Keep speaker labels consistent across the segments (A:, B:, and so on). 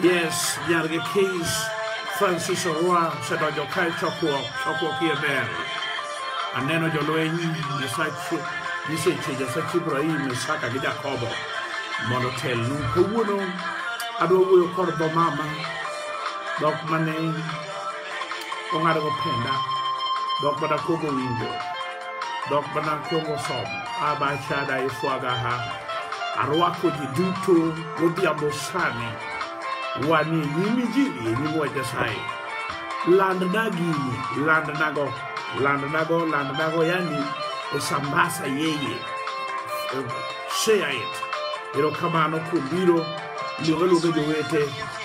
A: Yes, Yarga Keys, Francis Orwa, Sedo Jokai Chokwo, Chokwo Kiebel. Aneno jolweny Nyasachi, Nyiseche Nyasachi Ibrahim, Isaka gi Jakobo mondo otelnu. Kawuono adwa wuoyo kod dho mama, dhok mane ong'ado go penda dok mana kogo winjo dok mana kogo somo abachada ifwagaha arwako ji duto godhiambo sani wanie nyim injili e nyim wach nyasaye landna gini landnago landnago landnago yani esambasa yeye Eh, share it erokamano kuom biro luonga luonga jowete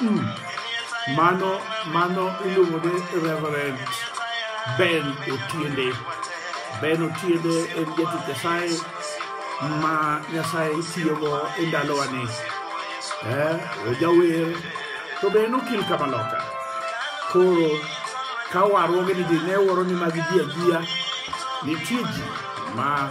A: Mm. Mano, mano iluongo ni Reverend Ben Otiende. Ben Otiende en jatich Nyasaye ma Nyasaye tiyogo e ndalowani. Eh, ojawer to be en okil kama loka. Koro ka warruoge ni ji ne waro ni mag ji ajiya nitie ji ma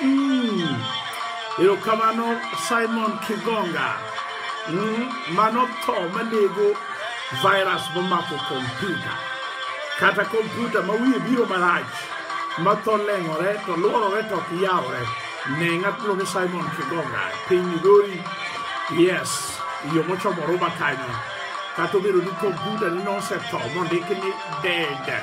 A: Mm. Erokamano Simon Kigonga. Mm. Mano tho manego virus momako kompyuta. Kata kompyuta ma wiye biro marach ma tho leng'ore to luorore to ok yawre. Ne ng'at miluongo ni Simon Kigonga e piny Migori. Yes, yo mochomo Ruma kanyo. Kata obedo ni kompyuta ni nosetho mondiki ni dead.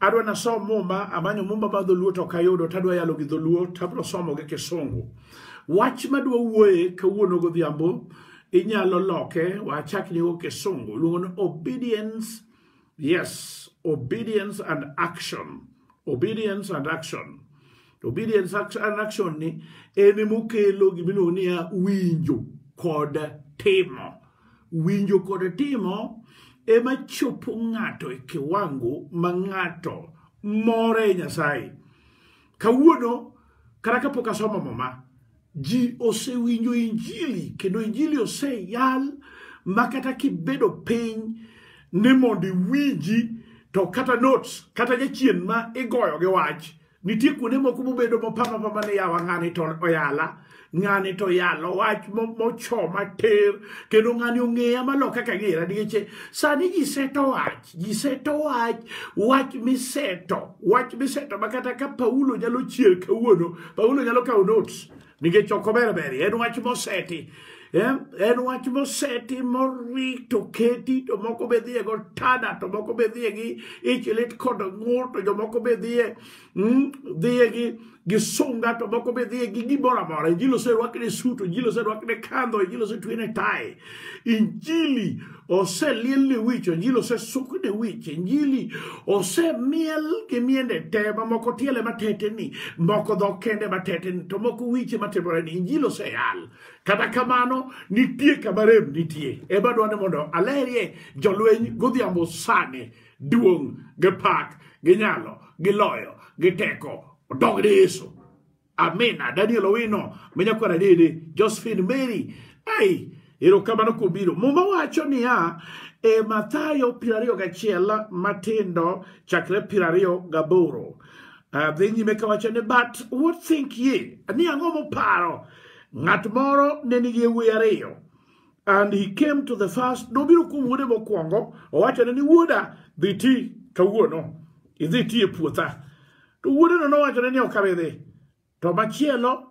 A: Adwa nasom muma, amanyo muma ma dholuo to ok ayudo, to adwa yalo gi dholuo, to abiro somo gi kisungu. Wach madwa wuoye kawuono godhiambo, inyalo loke, wachak nigo kisungu, iluongo ni obedience, yes, obedience and action. Obedience and action. Obedience and action ni en mokelo gimiluongo niya winjo kod timo. Winjo kod timo ema chopo ng'ato e kiwango ma ng'ato more e Nyasaye. Kawuono kata kapok asomo muma, ji osewinjo injili kendo injili oseyal ma kata kibedo piny ni mondo iwinji to kata notes kata jachien ma igoyo gi wach nitie kuonde moko mobedo mopama pama ni yawa ng'ani to oyala ng'ani to yalo wach mochoma ter kendo ng'ani ong'eya malo kaka ng'era nikech sani ji seto wach ji seto wach wach miseto wach miseto ma kata ka paulo nyalo chier kawuono paulo nyalo kawo notes Nikech ok ober beri, en wach moseti. Em, En wach moseti morito keti to moko be dhiye go tada to moko be dhiye gi ich lit kod ng'ur to jomoko be dhiye mm, dhiye gi gi sunga to moko be dhiye gi gimoro amora. Injili oserwakne suto, injili oserwakne kandho, injili osetwene tai. Injili oseliel ne wich, injili osesuk ne wich, injili osemiel gi miende te, mamoko tiele mateteni, moko dho kende mateteni, to moko wiche matimore ni injili oseyal. Kata kamano, nitie kama rem nitie. Ema dwani mondo alerie jolweny godhiambo sani, duong' gi pak gi nyalo gi loyo gi teko odog ne Yesu. Amina. Daniel Owino, Menyakwara Dede, Josephine Mary. Ai, erokamano kubiro. Muma wacho niya, e Mathayo piero ariyo gachiel matindo chakre piero ariyo gaboro. Ah, Dhi nyime kawacho ni, but what think ye? Ni ang'o muparo? Ng'at moro ne nigi yawuoyi ariyo. And he came to the first, nobiro kuom wuode mokwongo, owachone ni wuoda dhi ti kawuono, idhi ti e puotha. To wuodeno nowachone ni ok abi dhi. To machielo,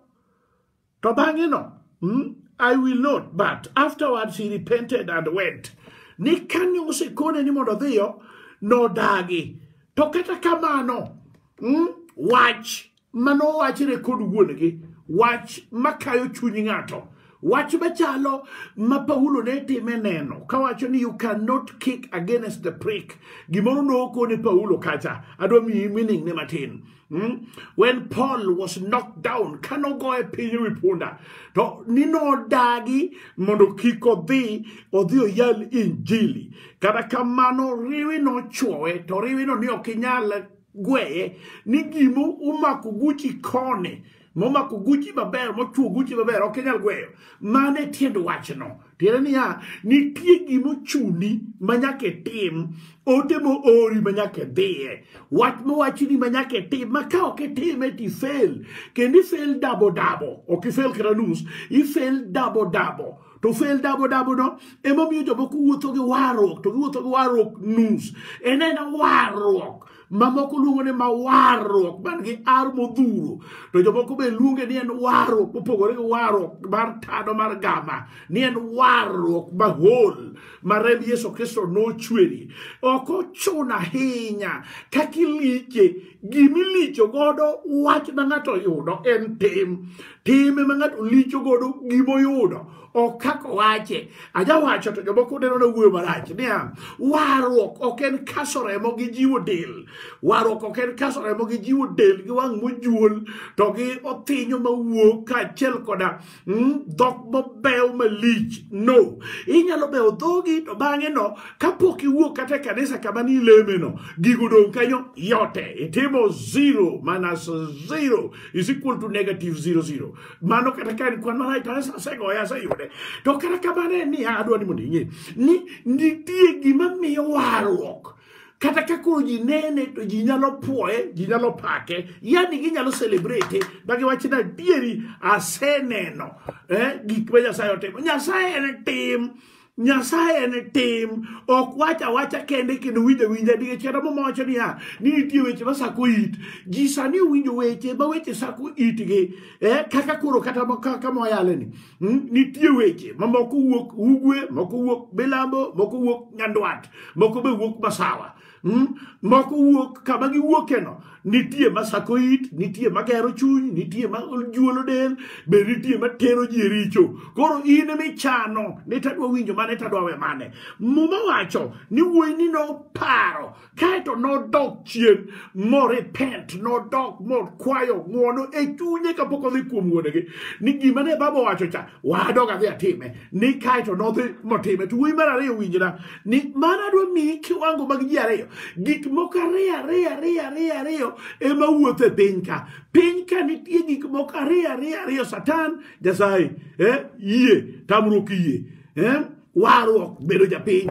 A: to bang'eno, hmm, I will not, but afterwards he repented and went. Ni kane osekone ni mondo odhiyo, nodagi. To kata kamano, hmm, wach mano wachre kod wuon-gi wach makayo chuny ng'ato wach machalo ma paulo ne time neno kawacho ni you cannot kick against the prick gimoro nokone paulo kacha adwa miyi meaning ne matin Hmm? When Paul was knocked down, cannot go a piny wi punda. To nino dagi mondo kik odhi odhi oyal injili. Kata kamano riwi nochwowe to riwi no ni ok inyal gweye ni gima omako guchi koni momako guchi maber mochuo guchi maber ok inyal gweyo mano e tiend wachno tiende niya nitie gima ochuni ma nyaka itim ote moori ma nyaka idhiye wach mowachni ma nyaka itim ma ka ok itime to ifel kendo ifel dabo dabo ok ifel kata nus ifel dabo dabo to fail dabo dabo no emomiyo jomoko wuotho gi warruok to giwuotho gi warruok nus en en warruok mamoko luongo ni ma warruok man gi ar modhuro to jomoko be luonge ni en warruok mopogore gi warruok mar tado mar gama ni en warruok mahol ma remb yesu kristo nochweri ok ochuno ahinya kaka ilike gima ilicho godo wach ma ng'ato oyudo en tim tim ema ng'ato licho godo gima oyudo ok kaka owache ajawacho to jomoko neno na wuoyo marach niya warruok ok en kaso remo gi jiwo del warruok ok en kaso remo gi jiwo del gi wang' mojuol to gi othinyo mawuok kaachiel koda Hmm? dhok mabeyo malich no inyalo beyo dhogi to bang'e no kapok iwuok kata e kanisa kama ni ileme no gigo dong' kanyo yote itimo zero minus zero is equal to negative zero zero mano kata ka en kwan marach to asegoye aseyude to kata kamano en niya adwa ni mondo ing'e ni nitie gima miyo warruok kata ka koro ji nene to ji nyalo puoye ji nyalo pake yani ginyalo celebrate ma giwachi ni adieri aseneno eh, gik ma nyasaye otimo nyasaye en tim nyasaye en tim ok wach awacha kende kendo winjo winja nikech kata muma wacho niya ni nitie weche masako it ji sani owinjo weche ma weche sako itgi eh, kaka koro kata ma- kaka mwayaleni Hmm? nitie weche ma moko wuok ugwe moko wuok milambo moko wuok nyandwat moko be wuok masawa hmm? moko wuok kama giwuokeno nitie ma sako it nitie ma gero chuny nitie ma juolo del be nitie ma tero ji e richo koro in michano ni tadwa winjo mane tadwa we mane muma wacho ni wuoyi ni noparo kae to nodok chien morepent nodok mokwayo ng'wono e chunye kapok odhi kuom wuonegi ni gima ne baba owacho cha wadog adhi atime ni kae to nodhi motime to wuoyi mar ariyo winjna ni mana dwa miyi kiwango mag ji ariyo gik moko ariyo ariyo ariyo ariyo ariyo ema wuotho e piny ka piny ka nitie gik moko ariyo ariyo ariyo satan jasaye eh, yie tamruok yie eh, warruok bedo japiny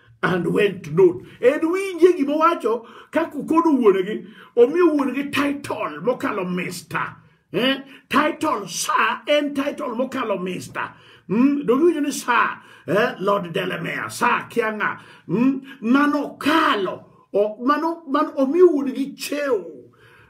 A: and went not en winje gima owacho ka kokodo wuonegi omiyo wuonegi title mokalo mister eh? title sa en title mokalo mister mm? donge winjo ni sa eh? lord delemea sa kianga mm? mano kalo O- mano man omi un gi cheu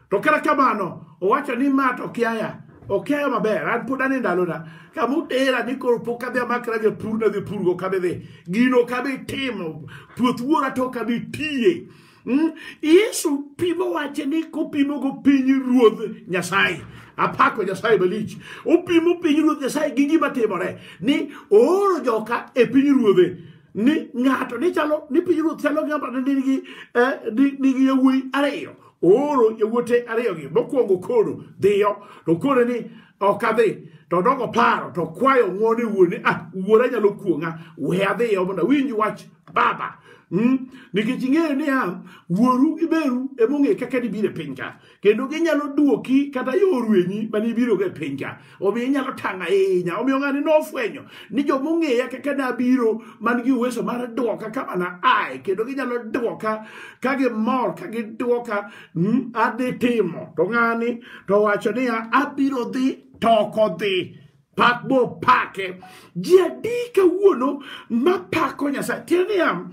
A: to kata kamano owacho ni ma to kiaya okiaya maber an pod ane ndalona kama utera ni koro pok adhi amakra gi pur nadhi pur go kabe dhi gino kabe timo puoth wuora to kabe tiye Mm, yesu pimo wache ni kopimo go piny ruodh nyasaye apako nyasaye malich opimo piny ruodh nyasaye gi gima timore ni ooro joka e piny ruodhe ni ng'ato ni chalo ni pinyruoth chalo gi ng'ato ni nigi eh, ni- nigi yawuoyi ariyo ooro yawuote ariyogi mokwongo koro dhiyo to koro ni ok adhi to dogo paro to kwayo ng'wone wuone ah wuora nyalo kuong'a we adhiyo mondo awinj wach baba Mm? nikech ing'eyo niya wuoru gi meru emong'e kaka nibiro e piny ka kendo ginyalo duoki kata yorwenyi mane ibirogo e piny ka omiyo inyalo tang' ahinya omiyo ng'ani nofwenyo ni joma ong'eya kaka nabiro man gi uweso mar duoka kama na ae kendo ginyalo duoka ka gimor ka giduoka mm, adhi timo to ng'ani to wacho niya abiro dhi to ok odhi pak mopake ji adi kawuono mapako nyasaye tiende niya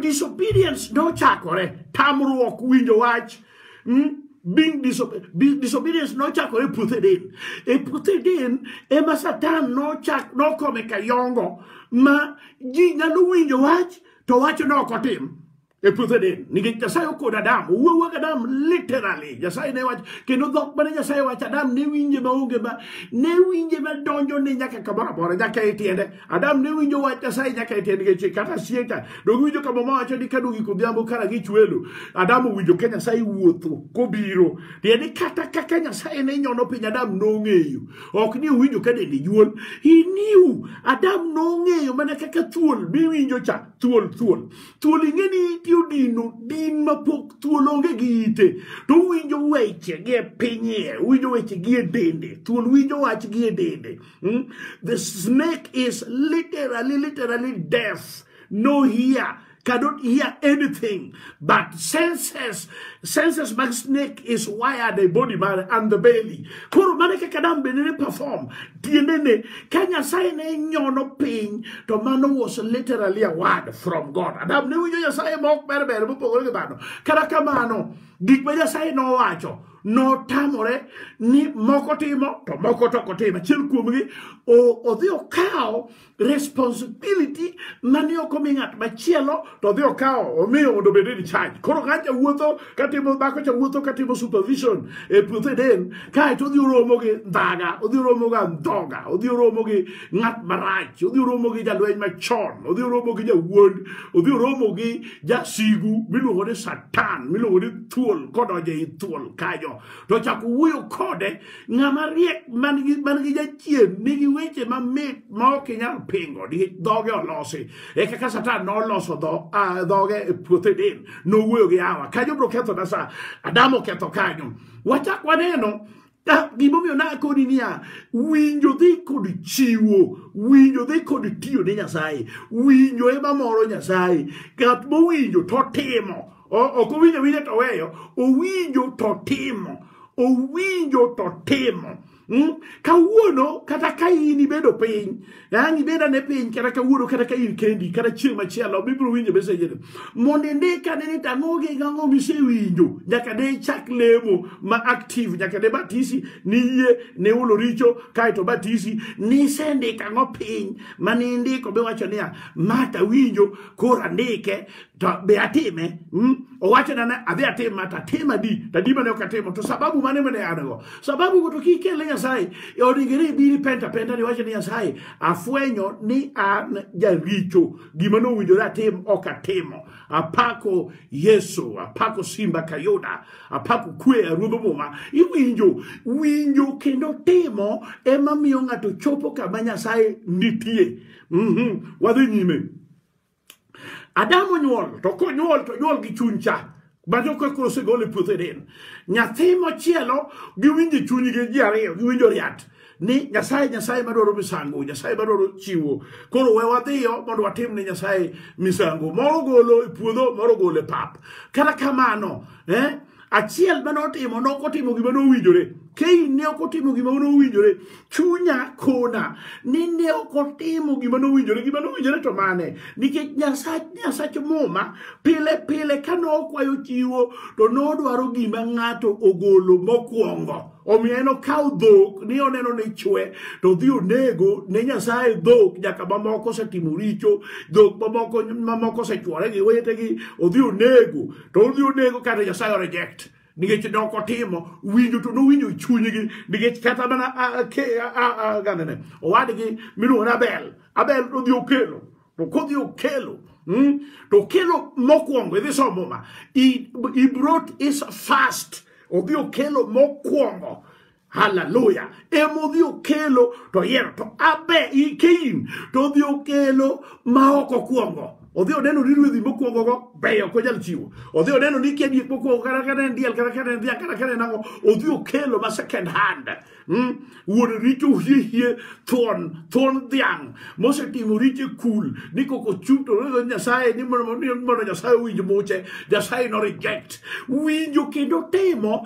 A: disobedience nochakore tamruok winjo wach mm? being disobe disobedience nochakore e puoth eden e puoth eden ema satan nochak nokome kayongo ma ji nyalo winjo wach to wacho ne ok otim e puothe Eden nikech Nyasaye okodo Adam owuowo gi Adam literally Nyasaye ne wach kendo dhok mane Nyasaye wacho Adam ne winje maonge ma ne winje ma donjo ne nyaka kamoro amora nyaka e tiende Adam ne winjo wach Nyasaye nyaka e tiende nikech kata sieka dong winjo kama ma wacho ni ka dongi kodhiambo kara gi chwelo Adam owinjo ka Nyasaye wuotho kobiro tiende kata kaka Nyasaye ne nyono piny Adam nong'eyo ok ni owinjo ka dende juol he knew Adam nong'eyo mana kaka thuol miwinjo cha thuol thuol thuol ing'e ni iti odino din mapok thuol onge gi ite to uwinjo weche gi e pinyie uwinjo weche gi e dende thuol winjo wach gi e dende hmm? the snake is literally literally deaf no hear cannot hear anything but senses senses mag snake is wired a body man and the belly koro mane kaka dam bende ne perform tiendene ka nyasaye ne nyono piny to mano was literally a word from god adam ne winjo nyasaye ma ok ber ber mopogore gi dhano kata kamano gik ma nyasaye nowacho notamore ni moko timo to moko to ok otimo achiel kuomgi odhi okawo responsibility mane ok omi ng'at machielo to odhi okawo omiyo mondo obed in charge koro ka cha wuotho katimo dhako cha wuotho katimo supervision e puothe den kae to odhi oromo gi ndhaga odhi oromo ga ndhoga odhi oromo gi ng'at marach odhi oromo gi jalweny machon odhi oromo gi jawuond odhi oromo gi jasigu miluongo ni satan miluongo ni thuol kodonje i thuol kanyo to chako wuoyo kode Ng'ama riek man gi man gi jachien nigi weche mamit ma ok inyal pingo nikech dhoge olosi. E kaka Satan noloso dho ah, dhoge e puoth Eden nowuoyo gi Hawa. Kanyo bro ketho na sa Adam oketho kanyo. Wachak waneno Ah, gimomiyo nakoni niya winjo dhi kod chiwo winjo dhi kod tiyo ne nyasaye winjo ema moro nyasaye ng'at mowinjo totimo ok owinjo awinja to weyo owinjo to timo owinjo to timo Hmm? kawuono kata ka in ibedo piny an ibeda ne piny kata kawuono kata ka in kendi kata chieng' machielo bibiro winjo mesejene mondo indik ane ni tang'o gi gang'o misewinjo nyaka ne ichak lemo ma active nyaka ne batisi niyie ne ulo richo kaeto batisi nisendik ang'o piny ma nindiko biwacho niya mata winjo koro andike to be atime mm? owachona ni adhi atim ma to atim adi to adi mane ok atimo to sababu mane mane an go sababu go to kik ikel ne nyasaye E onegere ibiri penta penta ni iwacho ni nyasaye afwenyo ni an jaricho gima nowinjore atim ok atimo apako yesu apako simba kayuda apako kwe aruodho muma iwinjo winjo kendo timo ema miyo ng'ato chopo kama nyasaye nitie mm -hmm. wadhi nyime Adam onyuol to konyuol to onyuol gi chuny cha bajo ka koro osegol e puothe del nyathi machielo giwinjo chunygi ji ariyo giwinjo riat ni nyasaye nyasaye madwaro misango nyasaye madwaro chiwo koro we wadhiyo mondo watim ne nyasaye misango moro golo e puodho moro golo e pap kata kamano eh? achiel ma notimo nokotimo gima nowinjore kei ne ok otimo gima nowinjore chunya kona ni ne ok otimo gima nowinjore gima nowinjore to mane nikech nyasach nyasach muma pile pile ka nokwayo chiwo to nodwaro gima ng'ato ogolo mokwongo omiyo en okaw dhok ni oneno ni chwe to dhi onego ne nyasaye dhok nyaka mamoko osetimo richo dhok mamoko mamoko osechwore gi wetegi odhi onego to odhi onego kata nyasaye o reject nikech ne ok otimo winjo to nowinjo e chunygi nikech kata mana ah, ke- ah, ah, ah, gandene owadgi miluongo ni abel abel nodhi okelo to kodhi okelo mm, to okelo mokwongo idhi somo muma he, he brought his first odhi okelo mokwongo haleluya emodhi okelo to yiero to abe ikein to odhi okelo ma ok okwongo odhi oneno ni ruedhi mokwongogo beyo ok onyal chiwo odhi oneno ni kia diek mokwongo kata kata en diel kata kata en dhiang kata kata en ang'o odhi okelo ma second hand mm? wuon richo hiehie thuon thuon dhiang' mosetimo richo e kul ni koko chung' to noyudo nyasaye ni mondo ni mondo nyasaye owinj muche nyasaye no reject winjo kendo timo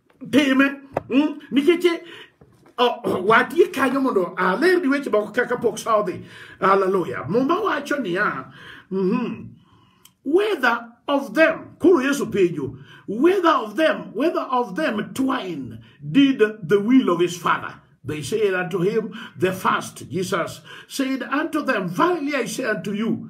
A: time mm, nikech eh, oh, watie kanyo mondo alerni weche moko kaka pok sa odhi haleluya muma wacho niya mhm, whether of them koro yesu penjo whether of them whether of them twine did the will of his father they said unto him the first jesus said unto them verily i say unto you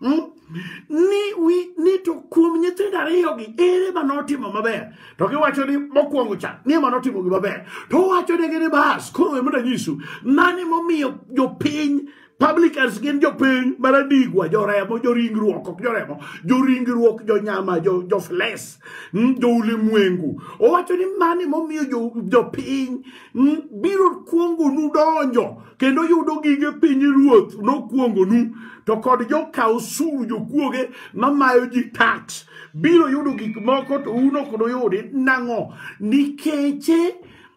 A: Hmm? ni wi ni to kuom nyithindo ariyogi ere ma notimo maber to giwacho ni mokwongo cha ni ema notimo gimaber to wacho negi ni bas koro we mondo anyisu mane momiyo jopiny publicans gin jopiny maradigwa joremo joringruok ok joremo joringruok jonyama jofles hmm, joulimwengu owacho ni mane momiyo jopiny hmm, biro kuongonu donjo kendo yudo gige piny ruoth nokuongonu to kod jokaw osuru jokuoge mamayo ji tax biro yudo gik moko to un ok nuyudi nang'o nikeche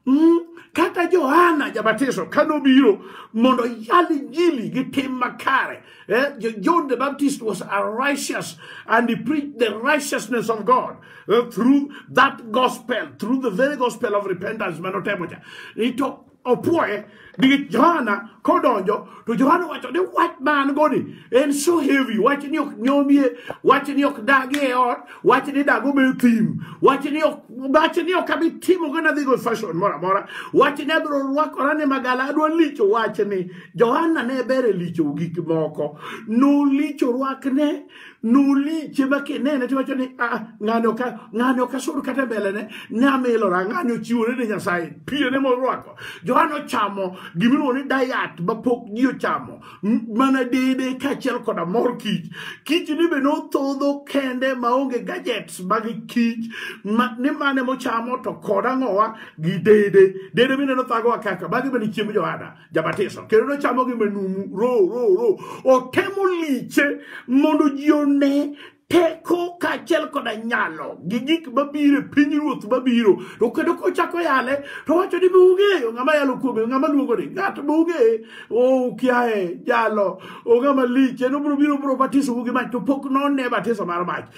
A: Mm, kata johana jabatiso ka nobiro mondo yal injili gi tim makare eh, Jo- john the baptist was a righteous and he preached the righteousness of god eh, through that gospel through the very gospel of repentance manotemocha ito opwoye nikech johana kodonjo to johana wacho ni wach ma an go ni en so heavy wach ni ok nyomie wach ni ok dagi e ot wach ni dago be thim wach ni ok wach ni ok abi timo gana dhi go fashion moro amora wach ni abiro rwakora ni magala adwa licho wach ni johana ne ber e licho gik moko nolicho rwakne nuliche ma kinene tiwacho ni ah, ng'ani ok ng'ani ok asud kata e mbelene ne amilora ng'ani ochiwore ne nyasaye piene morwako johana ochamo gimiluongo ni dayat ma pok ji ochamo m- mana dede kaachiel koda mor kich kich ni be nothodho kende maonge gadgets mag kich ma, ni mane mochamo to koda ng'owa gi dede dede bende nothagowa kaka magi bende chiemb johana jabatiso kendo nochamo gi manumu ro ro ro otemo liche mondo ji one teko kaachiel koda nyalo gi gik mabiro e piny ruoth mabiro to kendo kochako yale to wacho ni beung'eyo ng'ama yalo kuome ng'ama luongo ni ng'at beung'eye ukiaye jalo ong'ama lich en obiro biro biro batiso gi mach to pok none batiso mar mach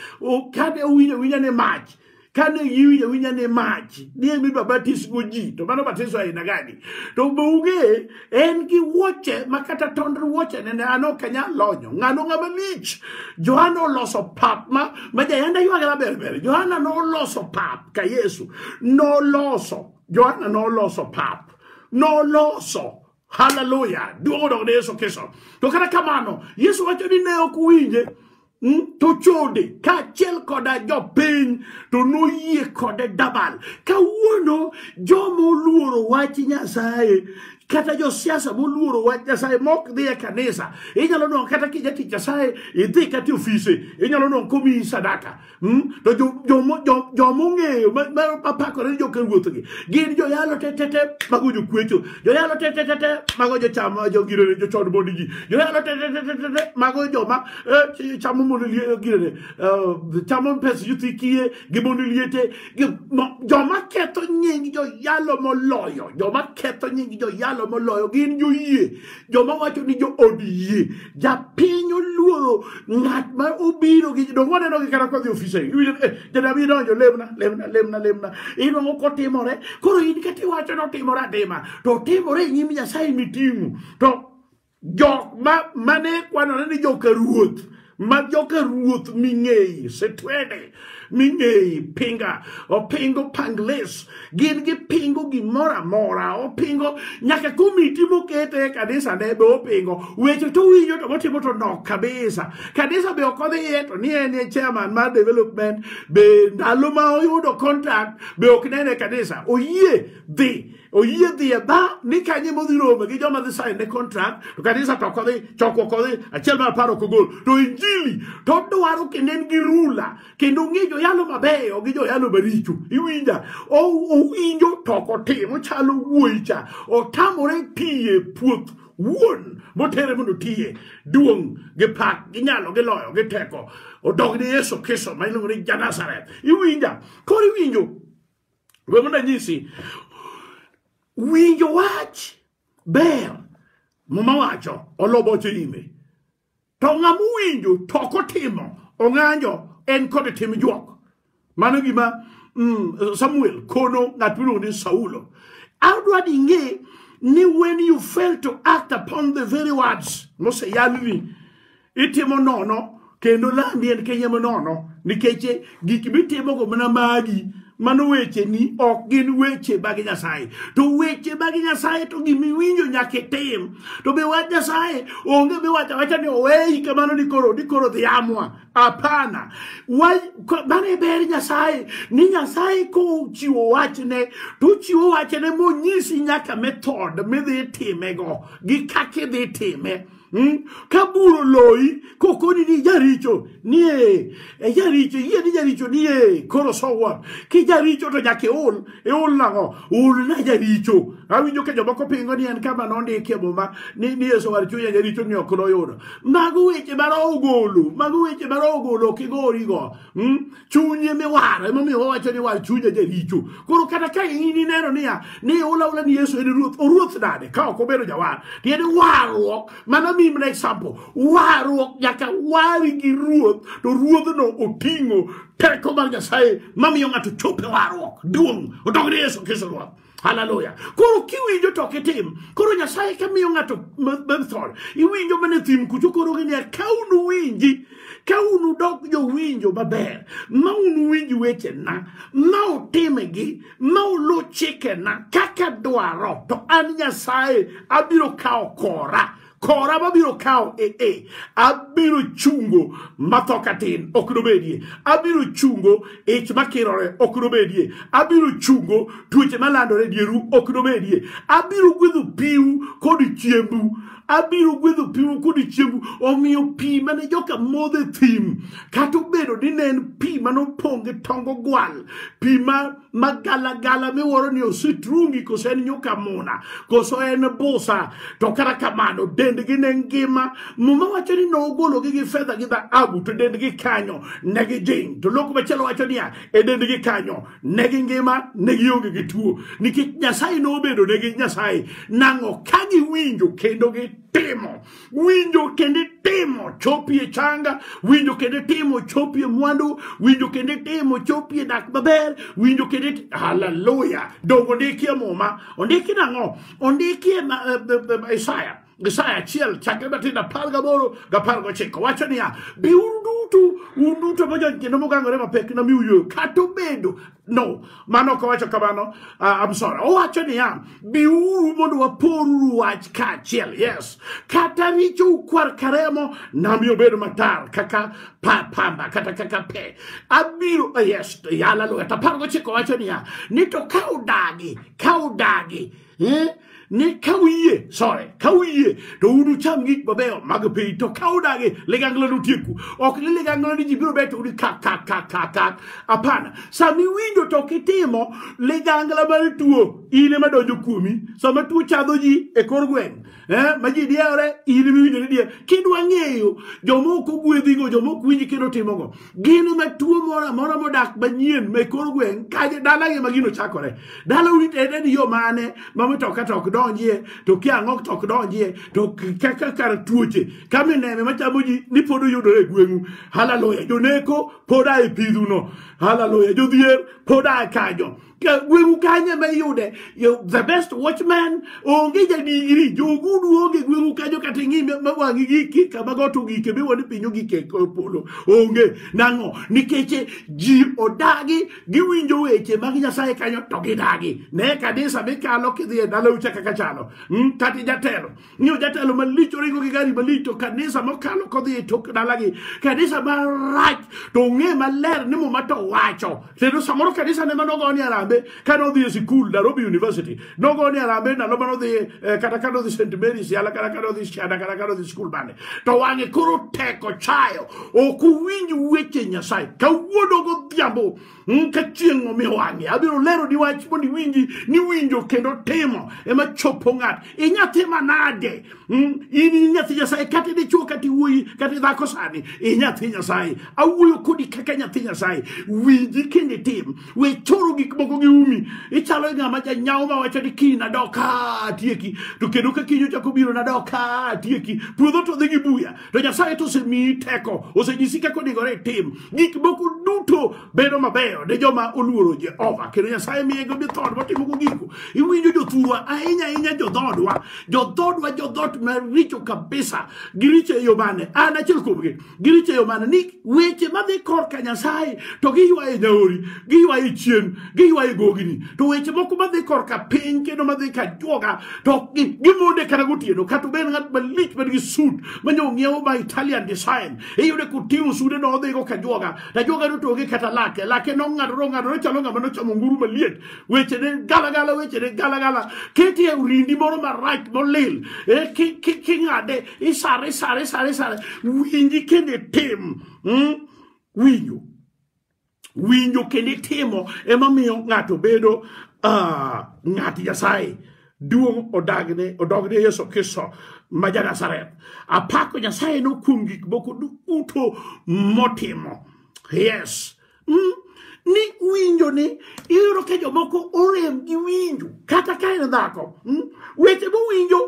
A: kane owinjo winja ni mach kane giwinjo winja ni mach nie midwa batisgo ji to mano batiso aina gani to be ung'e en gi wuoche ma kata tond wuoche nene an ok anyal lonyo ng'ano ng'ama lich johana oloso pap ma ma jayanda ywage maber ber johana noloso pap ka yesu noloso johana noloso pap noloso haleluya duong' odog ne yesu kristo to kata kamano yesu wacho ni ne ok winje Mm, to chode kaachiel koda jopiny to noyie kode dabal kawuono joma oluoro wach nyasaye kata josiasa moluoro wach nyasaye mok dhi e kanisa inyalo nongo kata kijatich nyasaye idhi kata e ofise inyalo nongo komiyi sadaka Hmm? to jomong'eyo mapakore ni joka ruothgi gin joyalo tetete mago jokwecho joyalo tetete mago jocham jogirene jochod mondi ji joyalo tetete mago joma eh, chamo mondo girene eh, chamo pes yuthi kiye gi mondo liete joma ketho nying joyalo moloyo joma ketho nying joyalo moloyo gin joyie joma wacho ni jo od yie japiny oluoro ng'at ma obiro gi dongo waneno gi kata kodhi ofisa janabi donjo lemna lemna lemna lemna inwang'o kotimore koro in kata iwacho ni otimore atima to otimore e nyim nyasaye miting'o to jok ma mane kwanore ni joka ruoth ma joka ruoth ming'eyi sitwede ming'eyi pinga opingo pangles gin gipingo gimoro amora opingo nyaka komiti mokete e kanisa ne be opingo weche to winjo to motimo to nok kabisa kanisa be ok odhiye to ni en e chairman mar development be ndalo ma oyudo contact be ok nene kanisa oyie dhi oyie dhi e ba ni kanye modhi rome gi joma dhi sign ne contract to kanisa to ok odhi choko ok odhi achiel mar apar ok ogol to injili to odwaro kendo en gi rula kendo ong'e joyalo mabeyo gi joyalo maricho iwinja O- owinjo to ok otim ochalo wuoyi cha otamore tiye puoth wuon motere mondo tiye duong' gi pak gi nyalo gi loyo gi teko odog ni yesu kristo ma iluongo ni janazareth iwinja koro iwinjo We mondo anyisi, winjo wach ber muma wacho olo boche ime to ng'ama owinjo to ok otimo ong'anjo en kod tim juok mano gima mm, samuel kono ng'at miluongo ni saulo adwa ni ing'e ni when you fail to act upon the very words moseyalni itimo nono kendo landi en kenya manono nikech gik mitimogo mana magi mano weche ni ok gin weche mag nyasaye to weche mag nyasaye to gimiwinjo nyaka itim to be wach nyasaye onge miwacho wacha ni oweyi kamano ni koro ni koro dhi amwa hapana mano e ber nyasaye ni nyasaye kochiwo wachne tochiwo wachne monyisi nyaka method midhi timego gi kaka idhi time Mm? ka bur oloyi kokoni ni jaricho nie e jaricho yie ni jaricho nie koro so what ki jaricho to nyaka iol iol nang'o ol na jaricho awinjo ka jomoko pingo ni en kama nondikie muma ni ni yeso war chunya jaricho ni ok noyudo mago weche mara ogolo mago weche mara ogolo ok igorigo mm? chunye miwaro emomiyo wawacho ni war chunye jaricho koro kata ka in ineno niya ni ulaula ni yesu en ruoth oruoth nade ka ok obedo jawar tiende warruok mano mimna example warruok nyaka wari gi ruoth to ruodhno oting'o teko mar nyasaye mamiyo ng'ato chope warruok duong' odog ni yesu kristo ruoth haleluya koro kiwinjo to kitim koro nyasaye kamiyo ng'ato method iwinjo mana e thim kucho koro giniya ka unu winji ka unu dok jowinjo maber ma unu winj wechena ma utimgi ma ulu chikena kaka dwaro to an nyasaye abiro kawo kora kora mabiro kawo e e abiro chungo matho katin ok nobedie abiro chungo ich makirore ok nobedie abiro chungo tuoche malandore dieru ok nobedie abiro gwedho piu kod chiembu abiro gwedho piu kod chiembu omiyo pi mane joka modho e thim kata obedo ni ne en pi manopong' gi tong ogwal pi ma ma galagala miwuoro ni ositrungi koso en nyuka muna koso en busa to kata kamano dendgi ne ngima muma wacho ni nogologi gi fedha gi dhahabu to dendgi kanyo ne gijing to loko machielo wacho niya e dendgi kanyo ne gi ngima ne gionge gi tuo nikech nyasaye nobedo ne gi nyasaye nang'o ka giwinjo kendo gitimo winjo kendo itimo chopi e changa winjo kendo itimo chopi e mwandu winjo kendo itimo chopi e dak maber winjo kendo it- haleluya donge ondiki e muma ondiki nang'o ondiki e ma- e- e- e- isaya isaya achiel chakre matindo apar gaboro gi apar gochiko wacho niya biuru duto un duto mojony kendo mogangore mapek namiu yweyo kata obedo No, mano ok owacho kamano. Uh, I'm sorry. Owacho niya, biuru mondo waporuru wach kaachiel. Yes. Kata richo ukwar karemo, nami obedo matar kaka pa, pamba kata kaka pe. Abiro uh, yes, yala lugha. Tapargo chiko wacho niya, ni to ka udagi, ka udagi Eh? ni ka uyie sore ka uyie to unucham gik mabeyo mag piny to ka udagi ligangla nutieku ok ni ligangla ni ji biro beto udi kak kak kak kak kak apana sama iwinjo to kitimo ligangla mar tuo in ema donjo kuomi sama tuo chadho ji e kor gweng' eh, ma ji diewore in miwinjo ni dier kidwa ng'eyo joma ok ogwedhigo joma ok winji kendo timogo gin ma tuo moro amora modak manyien ma kor gweng' kaje dalagi ma gino chakore dala uritede ni yo mane ma mitoka to ok donjie to kiang'ok to ok donjie to kaka kar tuoche ka mineme machamo ji ni pod uyudore e gweng'u haleluya joneko pod a e pidhuno haleluya jodhier pod a e kanyo gweng'u kanye ma iyude the best watchman onge jadigri jogudu onge gweng'u kanyo kata ing'i ma wang'i giki kama got ogike miwa ni piny ogike e polo onge nang'o nikech ji odagi giwinjo weche mag nyasaye kanyo to gidagi ne kanisa mikalo kidhi e dalau cha kaka chalo hmm, kata jatelo Ng'iyo jatelo malich oringo gi gari malich to kanisa mokalo kodhi e tok dalagi. Kanisa marach to ong'e maler ni muma to wacho. Kendo samoro kanisa ne mano goni arambe kane odhi e sikul Nairobi University. Nogoni arambe ndalo mane odhi eh, kata kane odhi St. Mary's yala kata kane odhi Shada kata kane odhi sikul bande. To wang'e koro teko chayo. Ok uwinj weche Nyasaye. Kawuono godhiambo Mm, ka chieng' omi wang'e abiro lero ni wach mondo iwinji ni winjo kendo timo ema chopo ng'at inyathi manade Mm, in inyathi nyasaye kata dichuo kata iwuoyi kata idhako sani inyathi nyasaye awuoyo kodi kaka nyathi nyasaye winji kendo itim we choro gik moko gi umi ichalo ng'ama janyawo ma wacho ni kiny nadok ka atieki to kendo ka kiny ochako biro nadok ka atieki puodho to dhi gi buya to nyasaye to osemiyi teko osenyisi kaka onegore itim gik moko duto bedo mabeyo ne joma oluoro jehova kendo nyasaye miye go jodhoodwa timogo gigo iwinjo jothurwa ahinya ahinya jodhoodwa jodhoodwa jodhoot maricho kabisa giricho e yo mane an achiel kuomgi giricho e yo mane ni weche madhi korka nyasaye to giywaye nyaori giywaye chien giywayo gogini to weche moko madhi korka piny kendo madhi ka juoga to ok gi- gimonde kata gotieno kata obed ng'at malich man gi sut manya ong'iewo ma italian design iyude koting'o sude no odhigo ka juoga to ajuoga no to onge kata lake lake nong'adore ong'adore chalo ng'ama nochamo nguru maliet weche ne galagala weche ne galagala keti e urindi moro marach molil eh, ki- ki- king'ade isare isare isare isare winji kendo itim mm, winjo winjo kendo itimo ema miyo ng'ato bedo uh, ng'at nyasaye duong' odagne odogne yesu kristo ma ja nazareth apako nyasaye no kuom gik moko duto motimo yes mm? ni winjo ni iyudo ka jomoko orem gi winjo kata ka en dhako mm? weche mowinjo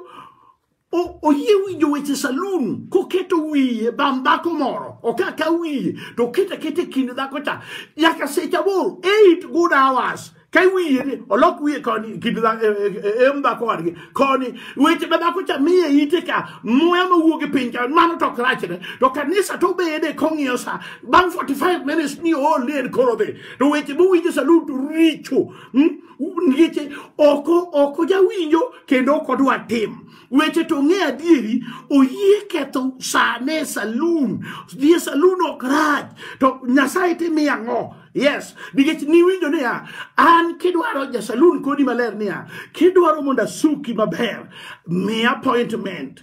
A: O- oyie winjo weche salun koketo wiye bam dhako moro okaka wiye to okete akete kind dhako cha nyaka seche aboro eight good hours ka wiye ni olok wiye koni kind dha- e- e- e- em dhako wadgi koni weche ma dhako cha miye ite ka muya mawuok e piny ka mano to ok rachne to kanisa to bede kong'iyo sa bang' 45 minutes ni ool ni en koro dhi to weche mowinjo salun to richo mm? nikech oko oko jawinjo kendo ok odwa tim weche to ng'e adieri oyie ketho sane salun dhie salun ok rach to nyasaye timi ang'o yes nikech niwinjo niya an kidwaro jasalun kodi maler niya kidwaro mondo asuki maber miya appointment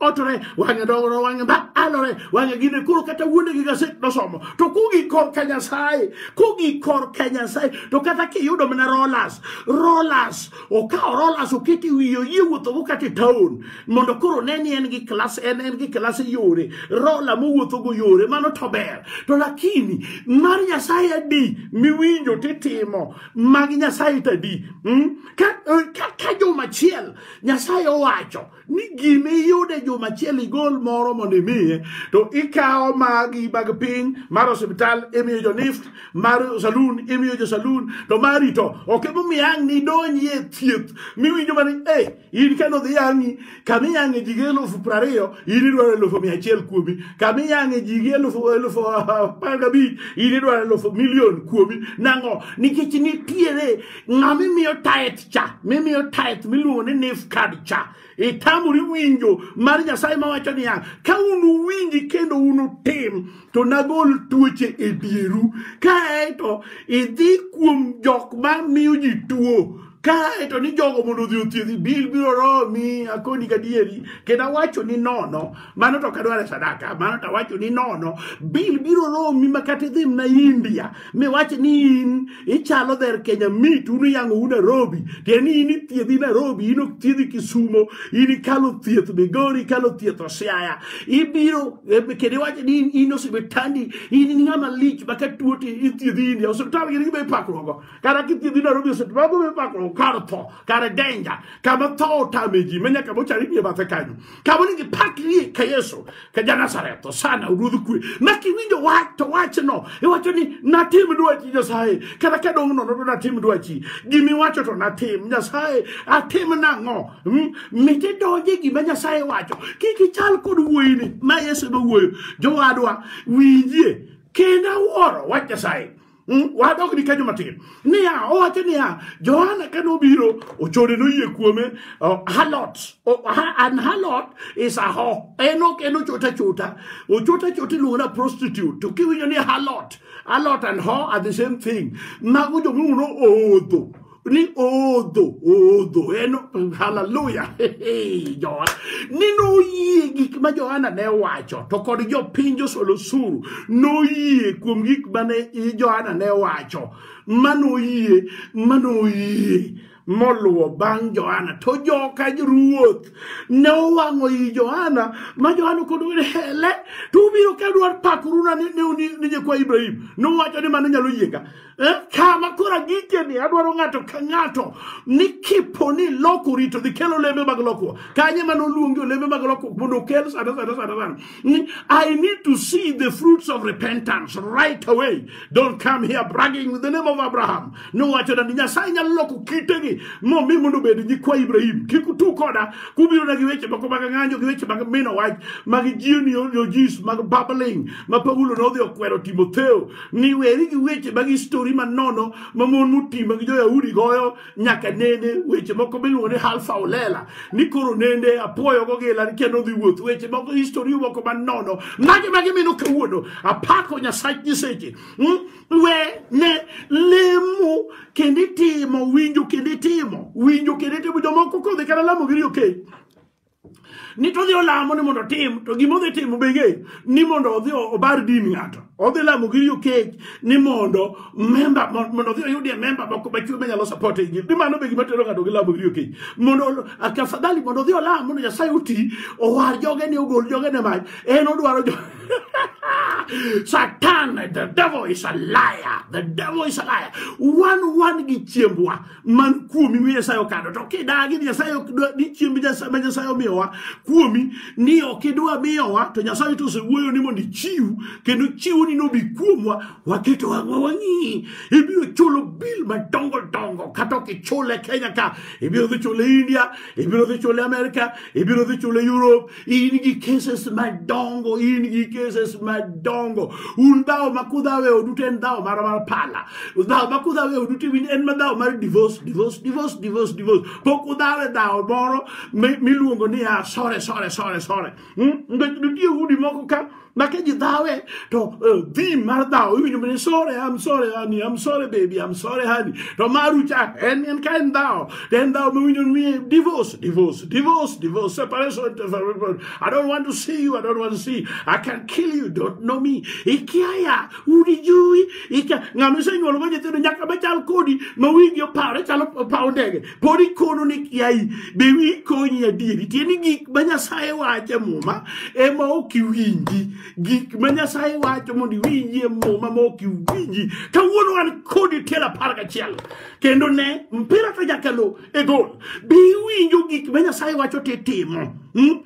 A: otore wang'e dongore wang'e ba alore wang'e gine koro kata wuonde gi gaset nosomo to kugi kor ka nyasaye kugi kor ka nyasaye to kata kiyudo mana rolas rolas okawo rolas okete wiye oyie wuothogo kata e taon mondo koro ne ni en gi klas en en gi klas e yore rola mowuothogo yore mano to ber to lakini mar nyasaye adi miwinjo titimo mag nyasaye tadi mm? ka, eh, ka, ka jomachiel nyasaye owacho ni gima iyude juma achiel igol moro mondo imiye to ikawo magi mag piny mar osiptal imiyo jo nift mar saloon imiyo jo saloon to mari to ok emomiyo ang' nidonji e thieth miwinjo mani e in kendo dhi yang'i kama iyang'e ji gi elufu prariyo in idwaro elufu mia achiel kuomi kama iyang'e ji gi elufu elufu apar gabich in idwaro elufu milion kuomi nang'o nikech nitiere ng'a mimiyo taet cha mimiyo taet miluongo ni nif card cha itamori winjo mar nyasaye mawacho niya ka unuwinji kendo unutim to nagol tuoche e dieru kaeto idhi kuom jok ma miyo ji tuo kaeto ni jogo mondo odhi othiedhi bil biro romi akoni gadieri kendo awacho ni nono mano to kadware sadaka mano to awacho ni nono bil biro romi makata idhi mna india miwach ni in ichalo dher kenya mit un iyango u nairobi tieni in ithiedhi nairobi in ok thiedhi kisumo in ikalo thieth migori ikalo thieth osiaya ibiro eh, kendo iwacho ni in- in osipitandi in in ng'ama lich ma ka tuo to ithiedhi india osiptal gin gima ipakruogo kata kithiedhi nairobi osiptal gima ipakruogo kar tho kar denja kama tho otame ji ma nyaka mochari nie bathe kanyo kaboni gipakrie ka yesu ka janasaretho sana ruodh kwe ma kiwinjo wach to wachno iwacho ni natim dwachi nyasaye kata ka dong' nono to natim dwachi gima iwacho to natim nyasaye atim nang'o Mm, mit idonje e gima nyasaye wacho kik ichal kod wuoyini ma yesu ema wuoyo jowadwa winjie kendo awuoro wach nyasaye Mm, wadok ni kanyo matin niya owacho niya johana ka nobiro ochode noyie kuome oh, halot oh, ha, an halot is a ho en ok en ochota chota ochota chota iluongo na prostitute to kiwinjo ni halot halot and ho are the same thing mago jomung'o no oodho ní odò odò ẹnu hallelujah jọwa nínú oyè gik ma Johana ne wacho to kod jopiny josolosuru noyie kuom gik mane Johana ne wacho manoyie manoyie moluwo bang' Johana to joka ruoth ne owang'o i Johana ma Johana kodo ni hele to ubiro ka dwar pakoruna ni nyikwa Ibrahim nowacho ni mano nyalo yieka Eh, kama koro agikeni adwaro ng'ato ka ng'ato ni kipo ni lokori to dhi kelo olembe mag lokruok kanye mane oluongi olembe mag lokruok mondo okel sada sada sada sada ni i need to see the fruits of repentance right away don't come here bragging with the name of abraham nowacho ni nyasaye nyalo loko kitegi momi mondo obed nyikwa ibrahim kik utu koda kubiro na gi weche moko mag ng'anyo gi weche mag mino wach mag jioni ojis mag babbling ma paulo nodhi okwero timotheo ni weri gi weche mag histori manono ma mon motima gi jo-yahudi goyo nyaka nene weche moko miluongo ni halfa olela ni koro nende apuoyo gogila ni kendo dhi wuoth weche moko histori moko manono mage mage mino kawuono apako nyasach nyiseche mm? we ne lemo kendo itimo winjo kendo itimo winjo kendo itimo jomoko kodhi kata lamo giri okei okay. ni to odhi olamo ni mondo otim to gima odhi timo be ng'eyo ni mondo odhi obar din ng'ato odhi lamo gi riyo kech ni mondo memba mon- mondo odhi oyudie memba moko machwe manyalo support e injili ni mano be gima tero ng'ato gi lamo gi riyo kech mondo ol- a- tafadhali mondo odhi olam mondo nyasaye oti owar joge ni ogol joge ne mach en odwaro jo Satan, the devil is a liar. The devil is a liar. One one gi chiembwa. man kuomi mi Nyasaye okado to kidagi Nyasaye ni chiemb ma Nyasaye omiyowa kuomi ni ok idwa miyowa to Nyasaye to osewuoyo ni mondo ichiw kendo chiwo ni nobi kuomwa waketo wang'wa wang'i ibiro chulo bil madongo dongo kata ok ichule Kenya ka ibiro dhi chule India ibiro dhi chule Amerika ibiro dhi chule Europe in gi cases madongo in gi cases madongo un dhawo ma kudhawo e odu to en dhawo mar mar pala dhawo ma kudhawo e odu to en ma dhawo mar divorce divorce divorce divorce divorce pok udhawo e dhawo moro miluongo ni a sore sore sore sore hmm? nikech nitie udi moko ka make ji dhawe to uh, thim mar dhaw iwinjo mane sore am sore honey am sore baby am sore honey to maru cha en en ka en dhaw to en dhaw miwinjo mi divorce divorce divorce divorce separation separation i don't want to see you i don't want to see you. i can kill you don't know me ikiaya udi jui ikia ng'ama isenyuolo go nyithindo nyaka bachal kodi ma wingi opawre chalo paw ndege pod ikono ni kiai be wi konyi adieri tieni gik ma nyasaye wacho e muma ema ok iwinji gik ma nyasaye wacho mondo iwinji e muma ma ok iwinji kawuono an kodi tiel apar gachiel kendo ne mpira to jakalo e gol be iwinjo gik ma nyasaye wacho titimo hmm?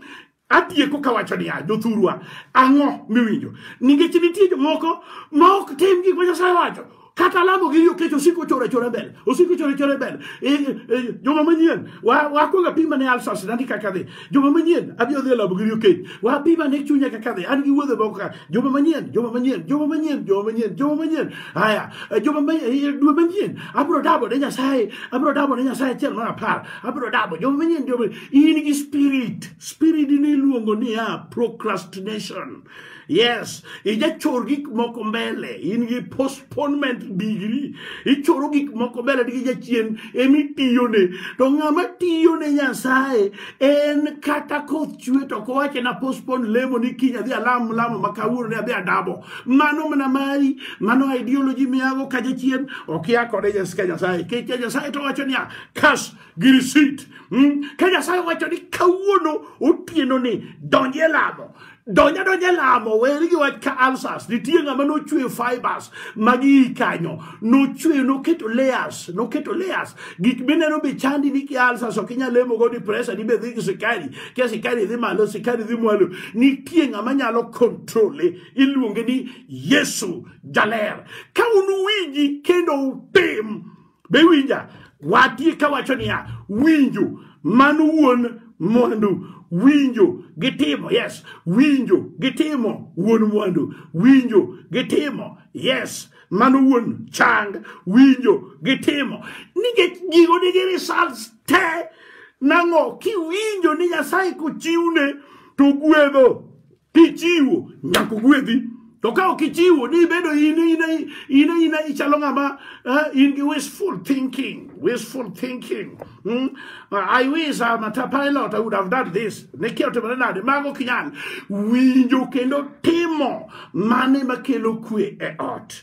A: Atieko kawacho niya, jothurwa, ang'o miwinjo? Nikech nitie jomoko ma ok tim gik ma Nyasaye wacho. Kata lamo gi yo kech osiko chora chora mbele. Osiko chora chora mbele. E, e, joma manyien, wa, wa kuonga pima ne alsa sida ndi kaka dhi. Joma manyien, abi odhi lamo gi yo kech. Wa pima ne chunya kaka dhi. An gi wuodhe moko ka. Joma manyien, joma manyien, joma manyien, joma manyien, joma manyien. Haya, e, joma manyien, e, dwe manyien. Abro dabo ne Nyasaye. Abro dabo ne Nyasaye chiel mar apar. Abro dabo. Joma manyien, joma in gi spirit spirit ni iluongo niya procrastination yes ijachor gik moko mbele in gi postponement degree ichoro gik moko mbele gi jachien emi tiyone to ng'ama tiyone nyasaye en kata koth chwe to kowache na postpone lemo ni kiny adhi alam lamo ma kawuono ne adhi adabo mano mana mari mano ideology miyago ka jachien okia kode nyasaye nyasaye kech nyasaye to wacho niya kas gi risit mm? ka nyasaye owacho ni kawuono otieno ni donj e lamo donja donja e lamo weri gi wach ka alsas nitie ng'ama nochweyo fibers magi kanyo nochweyo noketo layers noketo layers gik mineno be chandi ni ki alsas ok inyal lemo go ni pressure ni be dhi gi sikari kia sikari dhi malo sikari dhi mwalo nitie ng'ama nyalo kontrole iluonge ni yesu jaler ka unuwinji kendo utim be winja watie ka wacho niya winjo mano wuon mwandu winjo gi timo yes winjo gi timo wuon mwandu winjo gi timo yes mano wuon chang winjo gi timo nikech gigo nigi results te nang'o kiwinjo ni nyasaye kochiwne to gwedho Kichiwo nyaka ogwedhi. To ka ok ichiwo ni ibedo in ina ina ina ichalo ng'ama uh, in gi wishful thinking, wishful thinking. Mm? Uh, I wish I'm a pilot, I would have done this. Ne kia otimore nade? Mago kinyal winjo kendo timo mane makelo kwe e ot.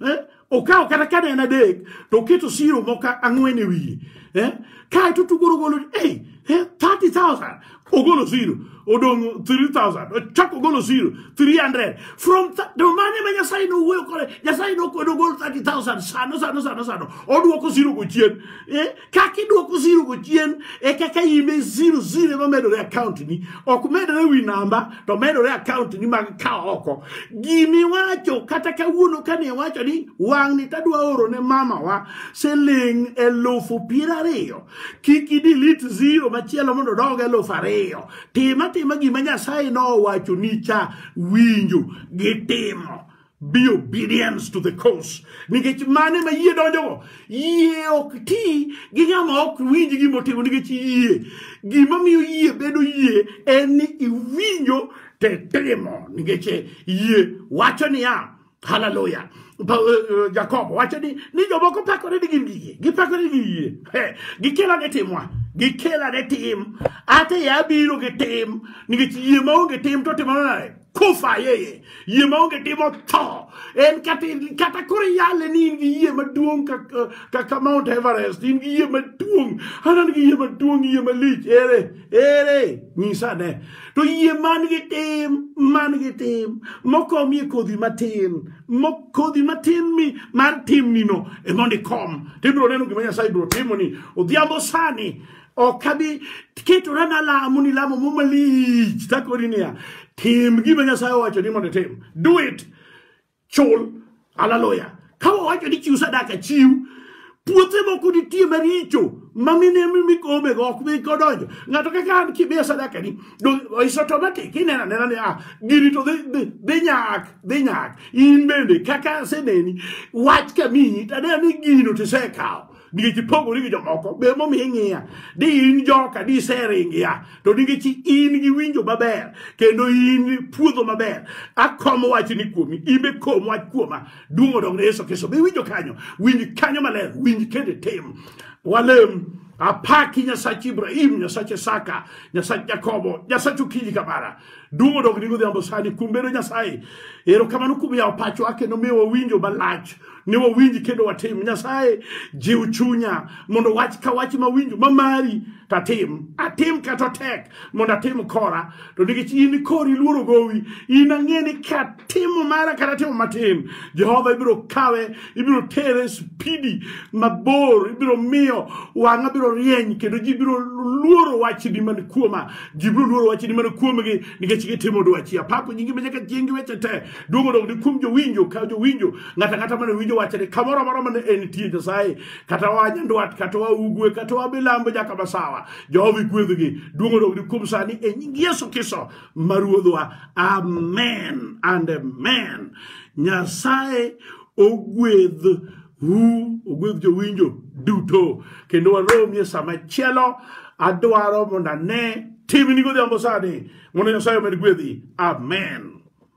A: eh? okawo kata kane en adek to oketo siro moko ang'wen e wiye eh? kae to tugoro golo hey, eh? 30000 ogolo siro odong' 3000 ochako ogolo siro 300 from to mane ma nyasaye nowuoyo kode nyasaye nokwedo ogol 30000 sano sano sano sano odwoko siro go chien eh? kaka idwoko zero go chien e kaka ime zero zero ema medore account ni ok medore wi namba to medore account ni mag ka oko gimiwacho kata kawuono kane iwacho ni wang'ni tadwa oro ne mamawa siling elufu piero ariyo kik idilit zero machielo mondo odog elufu ariyo tim atima gima nyasaye nowacho ni cha winjo gi timo be obedience to the cause nikech mane ma yie donjogo yie ok ti gi ng'ama ok winj gima otimo nikech yie gima miyo yie bedo yie en ni iwinjo tetimo nikech yie wacho niya haleluya Pa- eh, eh, jakobo wacho ni ni jomoko pakore ni gin gi yie gipakore gi yie Eh, gikela ne timwa gikela ne tim ate yabiro gi tim nikech yie maonge tim to timo nade kufa yeye yie maonge timo tho en kata kata koro iyale ni in gi yie maduong' kaka kaka mount everest in gi yie maduong' an an gi yie maduong' yie malich ere ere nyisa ne to yie man gi tim man gi tim mokomie kodhi matin mo kodhi matin mi mar timnino e mondo ikom to ibiro neno gima nyasaye biro timoni odhiambo sani ok abi ketora nalamo ni lamo mo malich takoni niya tim gima nyasaye owacho ni mondo itim do it chul haleluya ka wawacho ni chiw sadaka chiw puothe moko nitie maricho mamine mikome go ok bi kodonjo ng'ato kaka an kimiya sadaka ni do- is automatic ineno anena ni ah gini to dhi- dhi dhi nyak dhi nyak in bende kaka aseneni wach kamiyi taneno ni gino tisekawo nikech ipogori gi jomoko be momiyo ing'iya di in joka di iseringia to nikech in gi winjo maber kendo in puodho maber akomo wachni kuomi in be kom wach kuoma duong' odong ne yesu kristo be winjo kanyo winj kanyo maler winj kendo tim walem apaki nyasach ibrahim nyasach isaka nyasach jakobo nyasach okinyi kamara Duong' odog ni godhiambo sani kuom bedo Nyasaye. Erokamano kuom yawo pachwa kendo miyo wawinjo malach ne wawinji kendo watim. Nyasaye jiw chunya mondo wach ka wach mawinjo mamari tatim. Atim kata tek mondo atim kora to nikech in kori luoro gowi in ang'e ni katimo mara kata timo matin Jehova ibiro kawe ibiro tere spidi mabor ibiro miyo wang'a biro rieny kendo ji biro luoro wachni man kuoma Gibiro luoro wachni mana kuomgi nikech gitimo dwachi. Apako nyingi ma nyaka chieng' gi weche te. Duong' odog ni kuom jowinjo ka jowinjo ng'ato ang'ata mane winjo wachne kamoro amora mane entie Nyasaye kata wa nyandwat kata wa ugwe kata wa milambo nyaka masawa. Jehova igwedhgi. Duong' odog ni kuom sani e nying Yesu Kristo ma Ruodhwa. Amen and amen. Nyasaye ogwedh Hu, ogwedh jowinjo duto. Kendo waromi e sama chielo, adwaro mondo ane timni godhiambo sani. Mondo Nyasaye omed gwedhi. Amen.